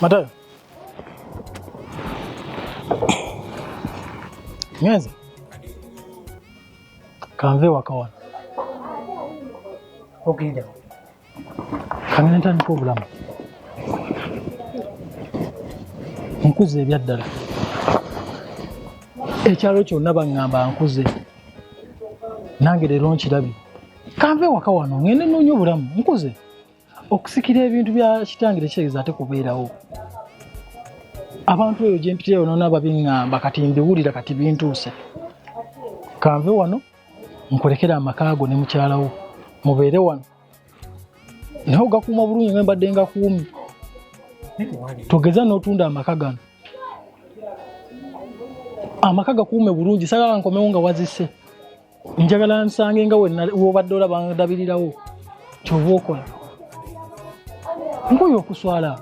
Matayo. Nyweza. Kanve wakawana. Ogenda. Kangana ntandika obulamu. Nkuze ebyaddala. Ekyalo kyonna baŋŋamba nkuze. Nange leero nkirabye. Kanve waka wano ngende nnoonya obulamu nkuze. okusikira ebintu bya kitange tekitegeeza ate kubeerawo abantu eyo gyempitirayo nona babiŋŋamba kati mbiwulira kati bintuuse kanve wano nkulekere amaka go ne mukyalawo mubeere wano naye ogakuuma bulungi nga mbadde ngakuumi togeza n'otunda amaka gano amaka gakuume bulungi sagala nkomewo nga wazise njagala nsange nga wobadde olaba ndabirirawo kyoba okola nkoyo okuswala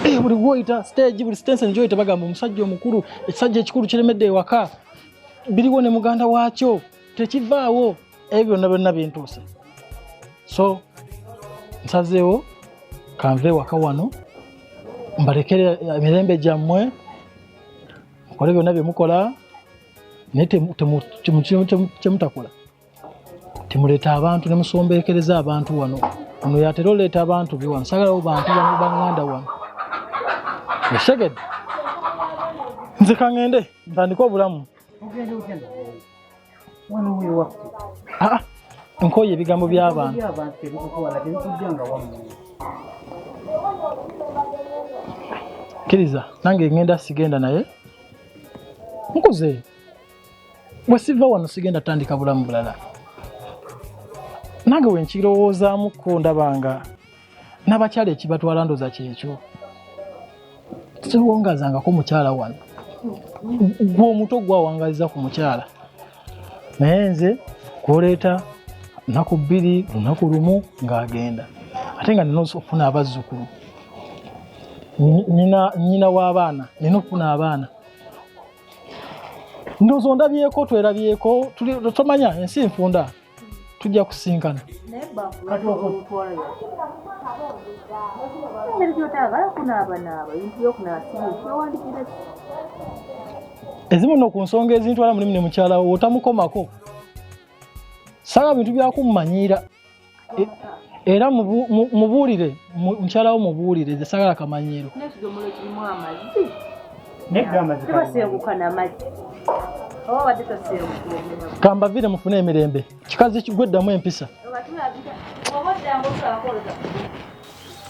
eh, buli gwoyita stage buli stense njoyita bagamba omusajja omukulu ekisajja ekikulu kiremedde ewaka biriwo ne muganda waakyo tekivaawo ebyo byonna byonna bintuuse so nsazeewo kanve ewaka wano mbalekere emirembe gyammwe mukole byonna byemukola naye kyemutakola temuleeta abantu nemusombekereza abantu wano ono yatera oleeta abantu be wano sagalawo bantu banganda wano osegedde nze kangende ntandike obulamu ah, nkoye ebigambo byabantu kiriza nange ngenda sigenda naye nkuze bwe siva wano sigenda tandika bulamu bulala nange wenkirowoozaamukko ndabanga n'abakyala ekibatwala ndoza kyekyo siwongazangako mukyala wano gwe omuto gwawangaliza ku mukyala naye nze kwoleeta nnaku bbiri lunaku lumu ng'agenda ate nga nina okufuna abazzukulu nyina w'abaana nina okufuna abaana ndowooza ondabyeko twerabyeko tomanya ensi nfunda tujja kusinkana ezimu no ku nsonga ezintwala mulimu ne mukyala wo otamukomako saba bintu byakummanyiira e, era mubuulire mukyala wo mubuulire ze sagala kamanyiiro kambavire mufune emirembe kikazi kigweddamu empisa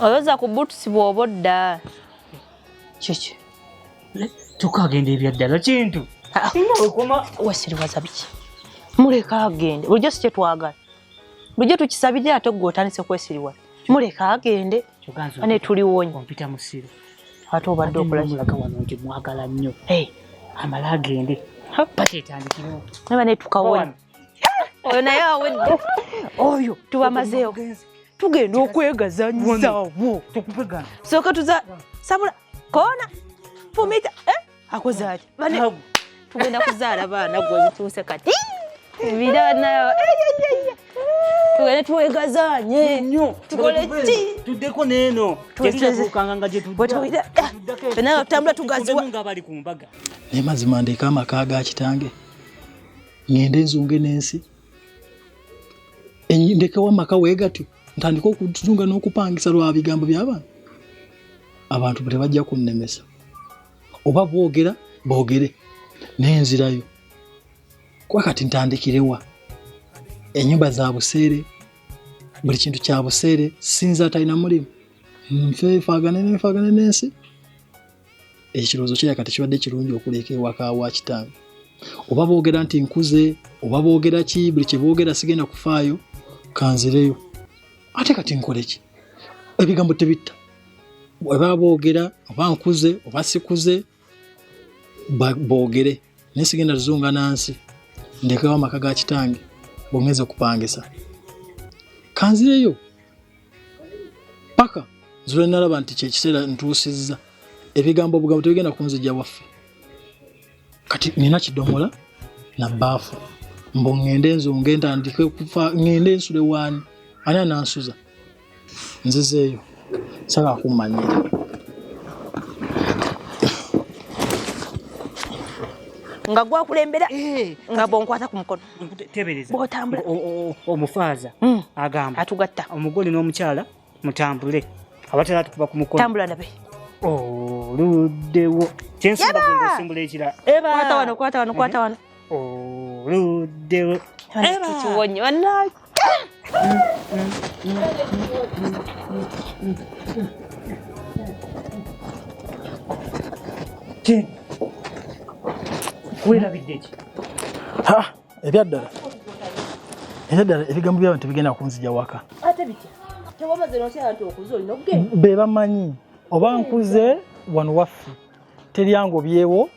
oyoza ku butusi bwoba odda kiki tukagenda ebyaddala kintu ah, ah. wasiriwaza biki muleka agende bulijjo si kyetwagala Lujja tukisabidde ate gwe otandise kwesiriwa. Muleka agende. Ane tuliwonye. Kompita musiru. Ate obadde okola kiraga wano nti mwagala nnyo. Hey. Amala agende. Pati etandikirewo. Naba ne tukawona. Oyo naye awedde. Oyo tubamazeewo. Tugenda okwegazanyisa wo. Sooka tuza sabula kona fumita eh? akuzaali tugenda kuzaala baana gwe zituuse kati biranayo tugende twegazanye tukole ki tuddeko neeno tukibuukanga nga gyetuddanaye eh, otambula tugaziwa nga bali ku mbaga naye mazima ndeeka amaka ga kitange ngende nzunge n'ensi ndekewo amaka weegatyo ntandika okutunga n'okupangisa lwa bigambo by'abantu abantu tebajja kunnemesa oba boogera boogere naye nzirayo kuba kati ntandikirewa enyumba za buseere buli kintu kya buseere sinza atalina mulimu nfefaagane nenfaagane n'ensi ekirowoozo kyeya kati kibadde kirungi okuleka ewaka wa kitange oba boogera nti nkuze oba boogera ki buli kyeboogera sigenda kufaayo kanzireyo ate kati nkoleki ebigambo tebitta oba boogera oba nkuze oba sikuze boogere naye sigenda tuzunga nansi ndekewo amaka ga kitange bwongeza okupangisa kanzireyo paka nzule nalaba nti kyekiseera ntuusizza ebigambo obugambo tebigenda kunzija waffe kati nina kidomola na baafu mbu ŋŋende nzunge ntandike okufa ŋŋende nsule waani ani anansuza nzizeeyo sala akummanyira nga gwakulembera eh, nga bonkwata ku mukono tebereza bwotambula omufaaza hmm. agamba atugatta omugole n'omukyala mutambule abatera tukuba ku mukono tambula ndabe oluddewo kyensimbula ekirala kwata wano kwata wano kwata wano oluddewo kiwonye bannange King, weerabidde ki? Ha, ebyaddala ebyaddala ebigambo by'abantu tebigenda kunzija waka. Ate bitya? Tewamaze n'okyala nti okuze olina okugenda. Be bamanyi oba nkuze wano waffe teryango byewo